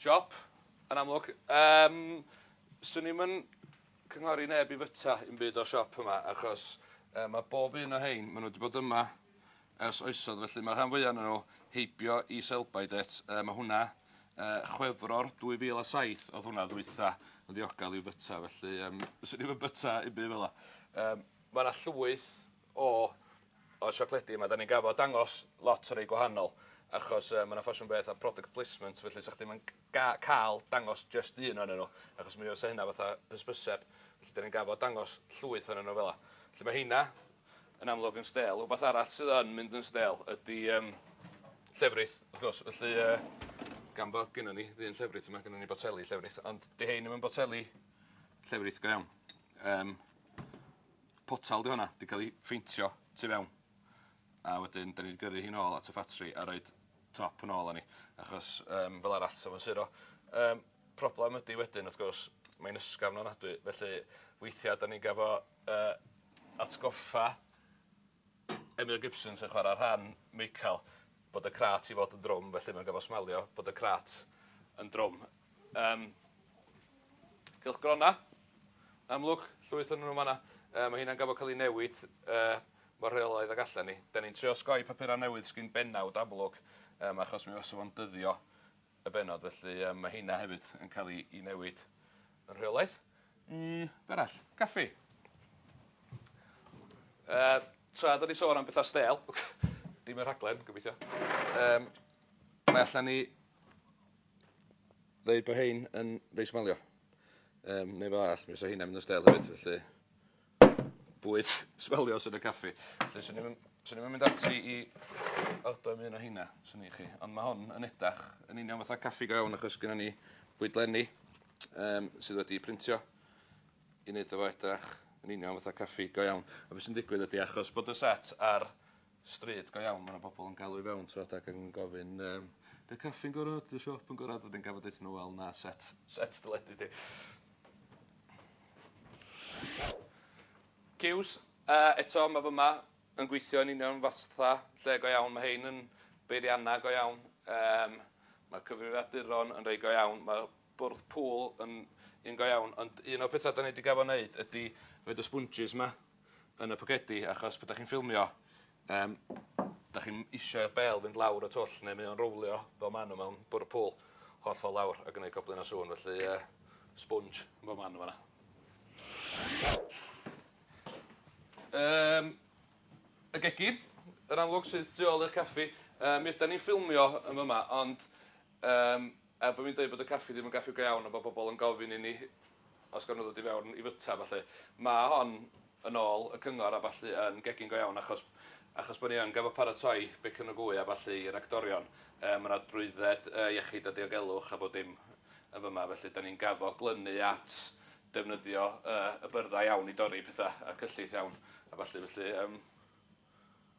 Siop, yn amlwg. Um, Swn i'm yn cynghori neb i fyta i'n byd o'r siop yma, achos um, mae bob un o hein, maen nhw wedi bod yma Ers oesoedd felly mae'r rhan fwyaf ohonyn nhw heibio i Selby det. Yy mae hwnna yy Chwefror 2007 oedd hwnna ddwytha yn ddiogel i'w byta felly yym fyswn i'm yn byta unbyd fela. Yym ma' 'na llwyth o o siocledi yma 'dan ni'n gafod dangos lot o rei gwahanol achos yy ma' 'na ffasiwn beth a product placement felly 'sach chdi'm yn g- ga- cael dangos jyst un ohonyn nhw, achos mi fysa hynna fatha hysbyseb, felly 'dan ni'n gafod dangos llwyth ohonyn nhw fela. Felly mae heina yn amlwg yn stêl. Wbath arall sydd yn mynd yn stêl ydy yym llefrith, wrth gwrs, felly yy gan bod gynnon ni ddyn llefrith yma, gynnon ni boteli llefrith, ond 'di hein ddim yn boteli llefrith go iawn. Yym potel 'di honna, 'di cael ei pheintio tu fewn. A wedyn 'dan ni 'di gyrru hi'n ôl at y ffatri a roid top yn ôl arni achos yym fel arall 'sa fo'n suro. Yym problem ydi wedyn wrth gwrs mae'n ysgafn ofnadwy felly weithia' 'dan ni'n gafo yy atgoffa Emyr Gibson sy'n chwara rhan Michael bod y crât i fod yn drwm felly mae'n gofo smailio bod y crât yn drwm. Um, cylchgrona. Amlwg, llwyth o'n nhw fanna. Uh, mae hynna'n gafod cael ei newid uh, mor rheolaidd ag allan ni. Da ni'n trio sgoi papurau newydd sgyn benawd amlwg, um, achos mi fasa fo'n dyddio y benod, felly um, mae hynna hefyd yn cael ei, ei newid yn rheolaeth. Mm, berall, caffi. Uh, tra, da ni sôn am bethau stel. Dim y rhaglen, gobeithio. Um, mae allan ni ddeud bod hein yn reit smalio. Um, neu fel all, mi fysa hynna'n mynd yn stel hefyd, felly bwyd smelio sy'n y caffi. Felly, swn i'n Swn i'n mynd ati i aldo am un o hynna, swn i chi. Ond mae hon yn edrych yn union fatha caffi go iawn achos gyda ni bwydlenni um, sydd wedi printio i wneud efo edrych yn union fatha caffi go iawn. A beth sy'n digwydd ydy achos bod y set ar stryd go iawn ma' 'na bobol yn galw i fewn t'wod ac yn gofyn yym 'di'r caffi'n gora' 'di'r siop yn gora' wedyn gorfod deutho n'w wel na set set deledu 'di. Ciws yy eto ma' fy' 'ma yn gweithio yn union fatha lle go iawn ma' rhein yn beirianna go iawn yym ma'r cyfrifiaduron yn rei go iawn ma' bwrdd pŵl yn un go iawn ond un o'r petha 'dan ni 'di gafo' neud ydi roid y sponjis 'ma yn y pocedi achos pan 'dach chi'n ffilmio yym 'dach chi'm isio i'r bêl fynd lawr y twll ne' mae o'n rowlio fel ma' n'w mewn bwrw pŵl holl ffor lawr a gneud goblyn o sŵn felly yy sponge yn bob man yn fan 'na. Yym y gegin yn amlwg sydd tu ôl i'r caffi yy mi ydan ni'n ffilmio yn fy' 'ma ond yym Er bod fi'n dweud bod y caffi ddim yn gaffi go iawn a bod pobl yn gofyn i ni os gawn nhw ddod i fewn i fwyta a ballu, mae hon, yn ôl y cyngor a ballu, yn gegin go iawn achos achos bod ni yn gorfod paratoi bacon a gwy a ballu i'r actorion. Yy mae 'na drwydded yy iechyd a diogelwch a bob dim yn fyma felly 'dan ni'n gorfod glynu at defnyddio yy y byrddau iawn i dorri petha a cyllid iawn a ballu felly yym.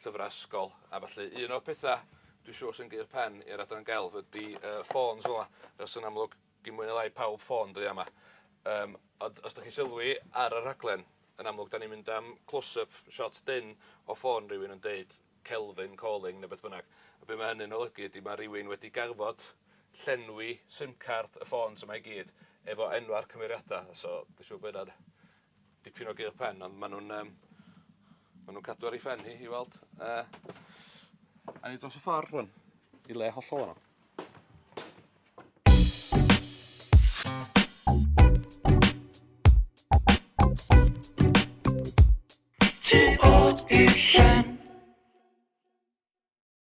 llyfrau ysgol a ballu. Un o'r pethau dwi'n siŵr sy'n gyrr pen i'r Adran Gelf ydy yy ffôns fel 'na. Achos yn amlwg gin mwy ne' lai pawb ffôn dyddia' 'ma. Yym ond os 'dach chi'n sylwi ar y rhaglen yn amlwg 'dan ni'n mynd am close up shot dyn o ffôn rywun yn deud Kelvin calling ne' beth bynnag. A be' ma' hynny'n olygu ydi ma' rywun wedi garfod llenwi sim card y ffôns yma i gyd efo enwa'r cymeriada so dwi siŵr bo' ynna'n Dipyn o gêl pen ond ma' nhw'n yym ma' nhw'n cadw ar ei phen hi i weld yy awn ni dros y ffor rŵan i le hollol wahanol.